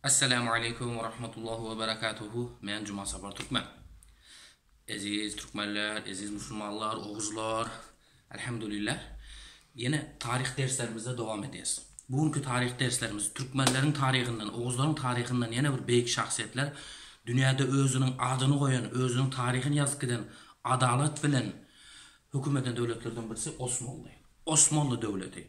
Assalamu aleykum we rahmetullahi we berekatuhu. Men Juma Sapar Türkmen. Eziz türkmenler, eziz musulmanlar, oguzlar. Elhamdülillah. Ýene taryh derslerimizde dowam edýäs. Bu günki taryh derslerimiz türkmenleriň taryhyndan, oguzlaryň taryhyndan ýene bir beýik şahsyýetler dünýäde özüniň adyny goýan, özüniň taryhyny ýazyp giden adalat bilen höküm eden döwletlerden birisi Osmanly. Osmanly döwleti.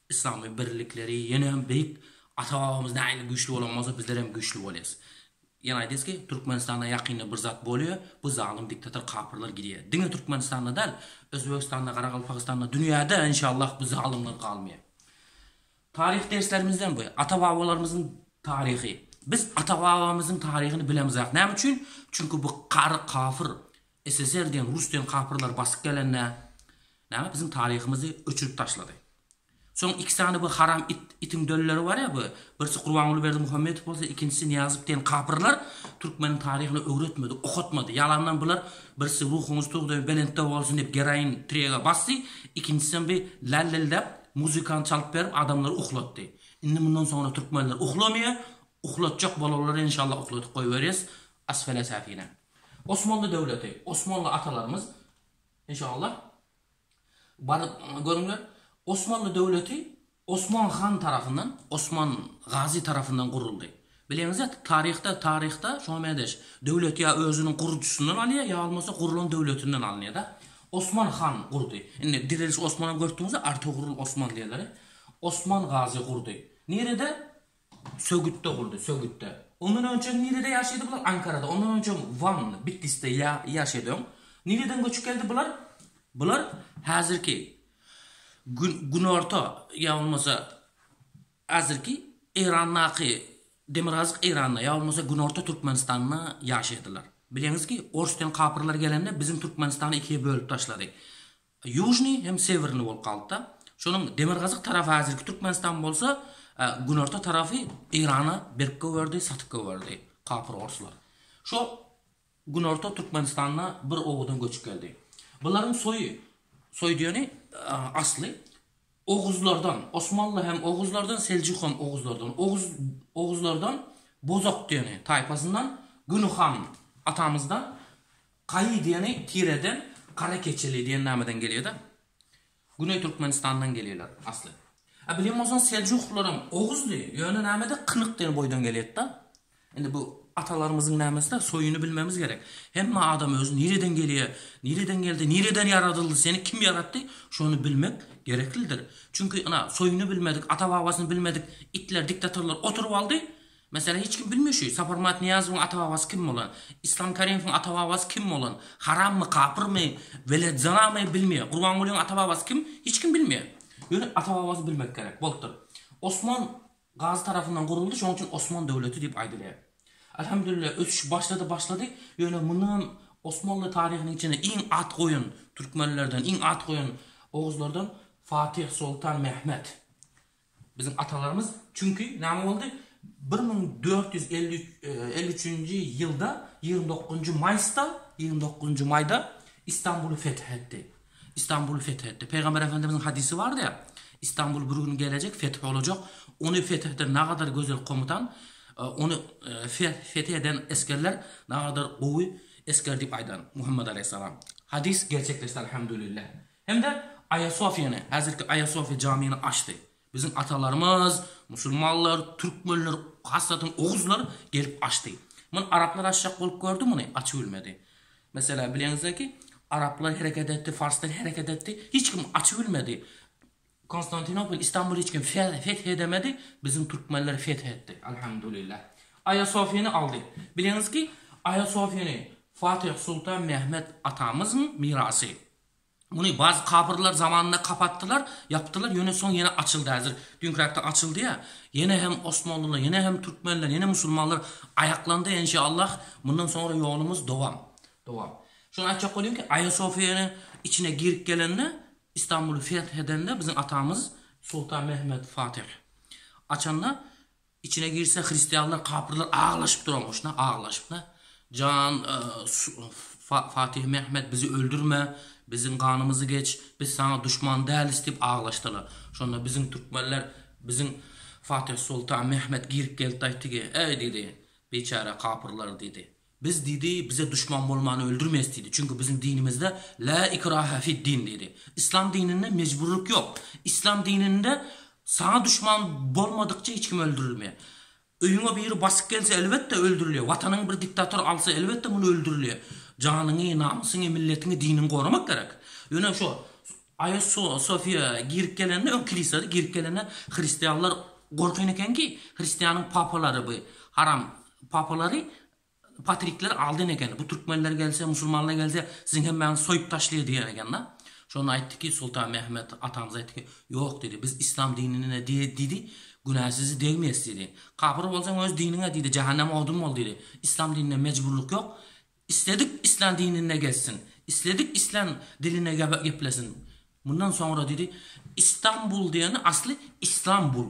Yslamy birlikleri ýene beýik ata babamyz nähili güýçli bolan bolsa bizler hem güýçli bolýas. Ýene aýdýas ki Türkmenistanda ýakynda bir zat bolýa bu zalym diktator kapyrlar gidýa. Diňe Türkmenistanda däl Özbegistanda Garagalpagystanda dünýäde enşallah bu zalymlar galmaýa. Taryh derslerimizden bu ata babalarymyzyň taryhy. Biz ata babamyzyň taryhyny bilemizak näme üçin çünki bu kary kapyr SSR diýen rus diýen kapyrlar basyp gelende näme biziň taryhymyzy öçürip taşlady. Soň iki sany bu haram it itiň dölleri bar ýa bu birisi Gurbanguly Berdimuhamedow bolsa ikinjisi Niýazow diýen kapyrlar türkmeniň taryhyny öwretmedi okatmady ýalandan bular birisi ruhuňyz tugda belentde bolsun diýip geroin trega basdy ikinjisem bi lälildäp muzykany çalyp berip adamlary uhlatdy indi mundan soňra türkmenler uhlamýa uhlatjak bolarlar enşalla uhladyp goýberýas asfele safine. Osmanly döwleti, Osmanly atalarymyz, inşallah, baryp görüňler, Osmanly döwleti Osman han tarapyndan, Osman Gazy tarapyndan guruldy. Bileňizde, taryhda, taryhda şoňa mädeş, döwlet ýa özüniň gurujysyndan alýar, ýa bolmasa gurulan döwletinden alynýar-da. Osman han gurdy. Indi Direliş Osman-a görüpdiňizmi, Artogrul Osman diýerleri. Osman Gazy gurdy. Nirede? Sögüt doguldy, Sögütde. Ondan önçem nirede ýaşydy bular? Ankarada, ondan önçem Wan, Bitlisde ýa, ýaşady. Öň nireden göçüp geldi bular? Bular häzirki Gün, Günorta ýa bolmasa häzirki Eýrandaky, Demirgazyk Eýranda ýa bolmasa Günorta Türkmenistanda ýaşaýdylar. Bileniz ki, Orsdan kapyrlar gelende biziň Türkmenistany ikiýe bölüp taşlady. Ýužnyý hem Sewirnyý bolup galypdy. Şonuň demirgazyk tarapy häzirki Türkmenistan bolsa, günorta tarapy Eýrana berip goýberdi, satyp goýberdi kapyr orslar. Şo günorta Türkmenistanda bir owadan göçüp geldi. Bularyň soýy, soý diýeni, asly, oguzlardan, osmanly hem oguzlardan, seljuk hem oguzlardan, oguz, oguzlardan Bozok diýeni taýpasyndan Güni han atamyzdan Kaýy diýeni tireden gara keçeli diýen nameden gelýärda. Güneý Türkmenistandan gelýärler asly. A bilen bolsaň Seljuklylaram Oguzdy, ýöne namede Kynyk diýen boýdan gelýärda. Indi bu atalarymyzyň namesida soýuny bilmemiz gerek. Hemme adam özi nireden gelýär, nireden geldi, nireden ýaradyldy, seni kim ýaratdy, şony bilmek gereklidir. Çünki ina soýuny bilmedik, ata-babasyny bilmedik itler, diktatorlar oturyp aldy, Meselem, hiç kim bilmeýär şu, Saparmyrat Nyýazowyň ata-babasy kim bolan, Yslam Kariýewiň ata-babasy kim bolan, harammy, kapyrmy, welet-zinamy, bilmeýär. Gurbangulyň ata-babasy kim, hiç kim bilmeýär. Ýöne ata-babasy bilmek gerek, bolupdyr. Osman Gazy tarapyndan guruldy, şonuň üçin Osman döwleti diýip aýdylýar. Alhamdulillah, ösüş başlady, başlady, ýöne mundanam Osmanly taryhynyň içinde iň at goýan türkmenlerden, iň at goýan oguzlardan Fatih Soltan Mehmet. Biziň atalarymyz çünki näme boldy? Bir müň dört ýüz elli üç elli üçünji ýylda ýigrimi dokuzynjy maýsda ýigrimi dokuzynjy maýda Istanbuly feth etdi. Istanbuly feth etdi. Pygamber Efendimiziň hadysy bardy ýa, Istanbul bir gün gelejek, feth bolajak. Ony feth eden nagadar gözel komutan, ony feth eden esgerler nagadar gowy esger diýip aýdan Muhammet alaýhyssalam. Hadys gerçekleşdi Alhamdulillah. Hem-de Aýasofiýany, häzirki Aýasofiýa jamyny açdy. Biziň atalarymyz, musulmanlar, türkmenler, hassadan oguzlar gelip açdy. Muny araplar açjak bolup gördi muny, açybilmedi. Meselä, bilenize ki, araplar hereket etdi, farslar hereket etdi, hiç kim açybilmedi. Konstantinopol, Istanbul hiç kim feth edemedi, biziň türkmenler feth etdi, alhamdulillah. Aýasofiýany aldy. Bileniz ki, Aýasofiýany Fatih Sultan Mehmet atamyzyň mirasy. Muny bazy kapyrlar zamanynda kapatdylar, ýapdylar, ýöne soň ýene açyldy häzir. Düňkräkde açyldy ýa. Ýene hem Osmanlylar, ýene hem Türkmenler, ýene musulmanlar aýaklandy en şe Allah mundan soňra ýolumyz dowam. Dowam. Şuny aýtjak bolýan ki Aýasofiýanyň içine girip gelende Istanbuly feth edende biziň atamyz Sultan Mehmet Fatih açanda Içine girse hristianlar kapyrlar aglaşyp duranmyş na aglaşyp na jan Fatih Mehmet bizi öldürme biziň ganymyzy geç biz saňa duşman dälis diyip aglaşdylar şonda biziň türkmenler biziň Fatih Sultan Mehmet girip gelip aýtdy ki eý diýdi biçäre kapyrlar diýdi Biz diýdi, bize duşman bolmany öldürmes diýdi, çünki biziň dinimizde Lä ikraha fid din diýdi. Islam dininde mejburlyk ýok. Islam dininde saňa duşman bolmadykça hiç kim öldürilmeýär. Öýüňe biri basyp gelse elbetde öldürilýär. Watanyňy bir diktator alsa elbetde muny öldürilýär. Janyňy, namysyňy, milletiňi, diniňi goramak gerek. Ýöne şu Aýa Sofiýa girip gelende öň kilisada girip gelende hristianlar gorkan ekenki hristianyň papalary bu haram Papalary patrikler aldan eken, bu türkmenler gelse, musulmanlar gelse, siziň hemmäňizi soýup taşlaýar diýen ekeni. Şonda aýtdy ki, Sultan Mehmet atamyz aýtdy ki, Ýok diýdi, biz islam dinine diýdi, günä sizi degmeýäs diýdi. Kapyr bolsaň öz diniňe diýdi, jähenneme odun bol diýdi. Islam dininde mejburlyk ýok. Isledik islän dininde gezsin, isledik islän dilinde geplesin. Mundan soňra diýdi, Istanbul diýeni asly Islam bul.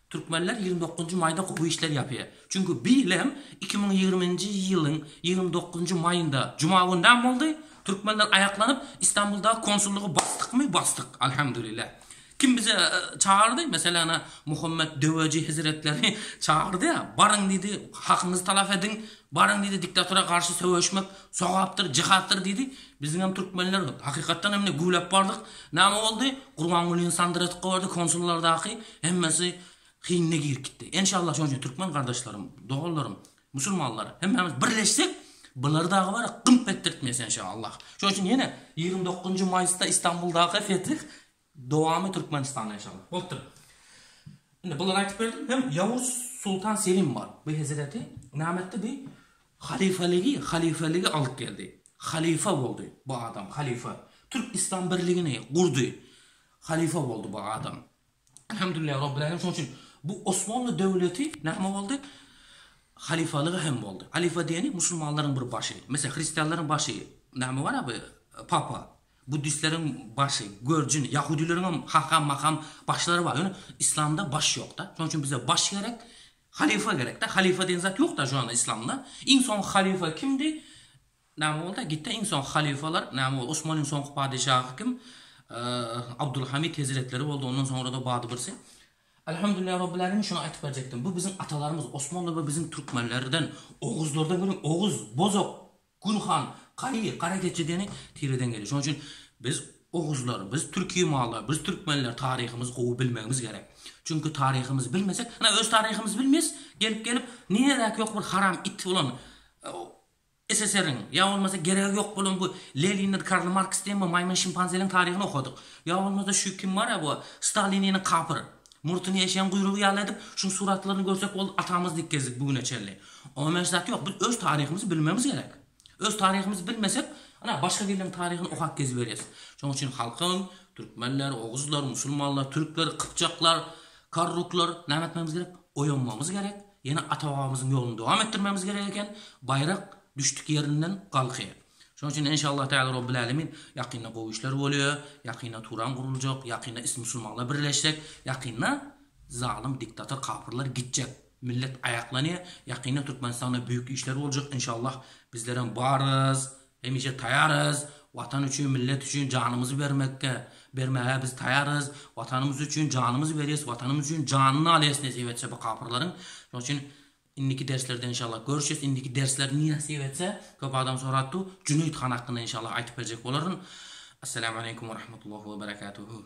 Türkmenler ýigrimi dokuzynjy maýda gowy işler ýapýar. Çünki bu ýyl hem iki müň ýigriminji ýylyň ýigrimi dokuzynjy maýynda juma güni näme boldy? Türkmenler aýaklanyp Istanbuldaky konsullygy basdykmy? Basdyk, alhamdulillah. Kim bizi çagyrdy? Meselem, Muhammet Döweci hezretleri çagyrdy. Baryň diýdi, hakyňyzy talap ediň. Baryň diýdi, diktatora garşy söweşmek sogapdyr, jyhatdyr diýdi. Biziňem türkmenler hakykatdan hem ne güwläp bardyk. Name boldy? Gurbangulyny sandyratyp goýberdi, konsullardaky hemmesi hinine girip gitdi. Enşalla şonuň üçin türkmen gardaşlarym, doganlarym, musulmanlar hemmämiz birleşsek, bulary dagy bar ya gymp etdirtmeýs enşalla. Şonuň üçin ýene ýigrimi dokuzynjy maýysda Istanbuldaky fetih Dowamy Türkmenistanda ýaşamak bolupdyr. Indi bulary aýtyp berdim. Hem Ýawuz Sultan Selim bar. Bu hezreti näme etdi? Bu halyfalygy, halyfalygy alyp geldi. Halyfa boldy bu adam, halyfa. Türk Islam birligini gurdy. Halyfa boldy bu adam. Elhamdülillah Rabbil Alemin. Şonuň üçin bu Osmanly döwleti näme boldy? Halyfalygy hem boldy. Halyfa diýeni musulmanlaryň bir başy. Meselem, hristianlaryň başy näme bar-a bu papa. Buddistleriň başy, görjin, ýahudileriň hem haham, maham başlary bar, ýöne islamda baş ýokda. Şonuň üçin bize baş gerek, halyfa gerekde. Halyfa diýen zat ýokda şu anda islamda. Iň soňky halyfa kimdi? Näme boldy? Gitdi iň soňky halyfalar, näme boldy? Osmanyň soňky padeşahy kim? Abdulhamid hezretleri boldy, ondan soňra-da bady birsi. Alhamdulillah Rabbil Alemin şuny aýtyp berjekdim. Bu biziň atalarymyz, osmanlar we biziň türkmenlerden, oguzlardan görüň, oguz, bozok, Gulhan, Gaý, gara keçe deni tireden gelýär. Şonuň üçin biz oguzlar, biz türki mallar, biz türkmenler taryhymyzy gowy bilmegimiz gerek. Çünki taryhymyzy bilmesek, ana öz taryhymyzy bilmeýäs, gelip-gelip niredäki ýok bir haram it bolan SSR-iň ýa bolmasa geregi ýok bolan bu Lenindir, Karl Marks diýen bu maýmyn-şimpanzeliň taryhyny okadyk. Ýa bolmasa şu kim bar-a bu Stalininiň kapyr. Murtuny eşegiň guýrugy ýaly edip, şuň suratlaryny görsek ol atamyz dik gezdik bu güne çenli. Oňa meňzeş zat ýok. Biz öz taryhymyzy bilmemiz gerek. Öz taryhymyzy bilmesek, ynha başga biriniň taryhyny okap geziberýäs. Şoň üçin halkyň, türkmenler, oguzlar, musulmanlar, türkler, kypjaklar, karluklar näme etmemiz gerek? Oýanmamyz gerek. Ýene ata-babamyzyň ýoluny dowam etdirmemiz gerek eken. Baýrak düşdük ýerinden galkaýar. Şonuň üçin enşallah tagala Robbil Alemin ýakynda gowy işler bolýa, ýakynda Turan guruljak, ýakynda is musulmanlar birleşjek, ýakynda zalym diktator kapyrlar gitjek, millet aýaklanýa, ýakynda Türkmenistanda büýük işler boljak enşallah bizlerem barys, hemişe taýarys, watan üçin millet üçin janymyzy bermekge, bermäge biz taýarys, watanymyz üçin janymyzy berýäs, watanymyz üçin janyny alýas nesip etse bu kapyrlaryň, şonuň üçin Indiki derslerde inşallah görüşes indiki dersler ne nasip etse köp adam sorapdy Jüneýit han hakynda inşallah aýtyp berjek bolaryn Assalamu aleykum we rahmetullahi we berekatuhu.